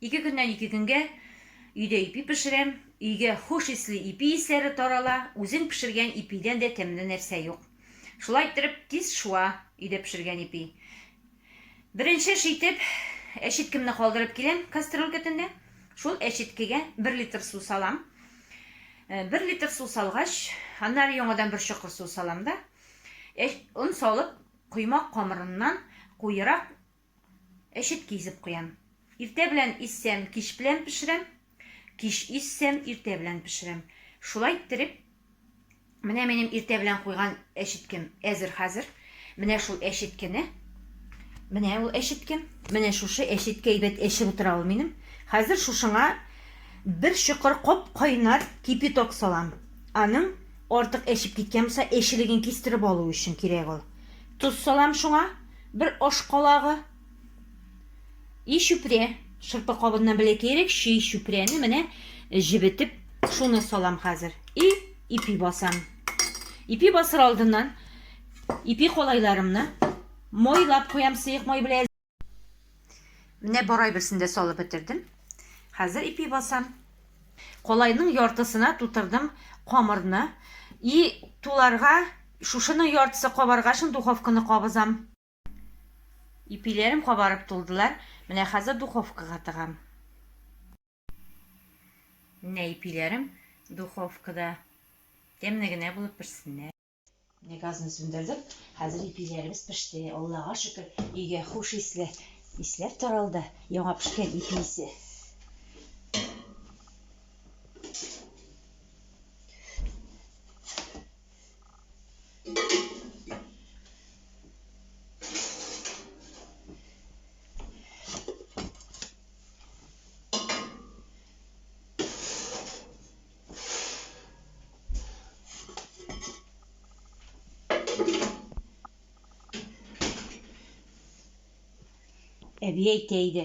Ике көннән ике көнгә өйдә ипи пешерәм, өйгә хуш исле ипи исләре тарала, үзең пешергән ипидән дә тәмле нәрсә юк. Шулай иттереп, тиз шуа өйдә пешергән ипи. Беренче эш итеп, әчеткемне калдырып киләм кастрюлька төндә. Шул әчеткегә бер литр су салам. Э, бер литр су салгач, аннары яңадан бер чокыр су салам да, он салып, коймак камырыннан куерак Әчет кизеп куям. Иртә белән изсәм, кич белән пешерәм. Кич изсәм, иртә белән пешерәм. Шулай иттереп, менә минем иртә белән куйган әчеткем әзер хәзер. Менә шул әчеткене, менә ул әчеткем, менә шушы әчеткә әйбәт әчеп утыра ул минем. Хәзер шушыңа бер чокыр коп кайнар кипяток салам. Аның артык әчеп киткән булса, әчелеген кистереп алу өчен кирәк ул. Тоз салам шуңа. Бер аш калагы. И чүпрә. Шырпы кабыннан бәләкәерәк чөй чүпрәне менә җебетеп, шуны салам хәзер. И ипи басам. Ипи басыр алдыннан ипи калайларымны майлап куям сыек май белән. Менә барай берсендә салып бетердем. Хәзер ипи басам. Колайның яртысына тутырдым камырны. И туларга шушының яртысы кабарга шын духовканы кабызам. Ипиләрем кабарып тулдылар. Менә хәзер духовкага тыгам. Менә ипиләрем духовкада. Тәмле генә булып пешсеннәр. Газны сүндердек. Хәзер ипиләребез пеште. Аллага шөкер, өйгә хуш исле исләр таралды. Яңа пешкән ипи исе. Әби әйтә иде,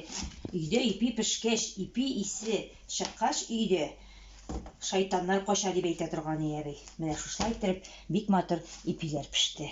өйдә ипи пешкәч, ипи исе чыккач өйдә шайтаннар кача дип әйтә торган иде әби. Менә шушылай иттереп бик матур ипиләр пеште.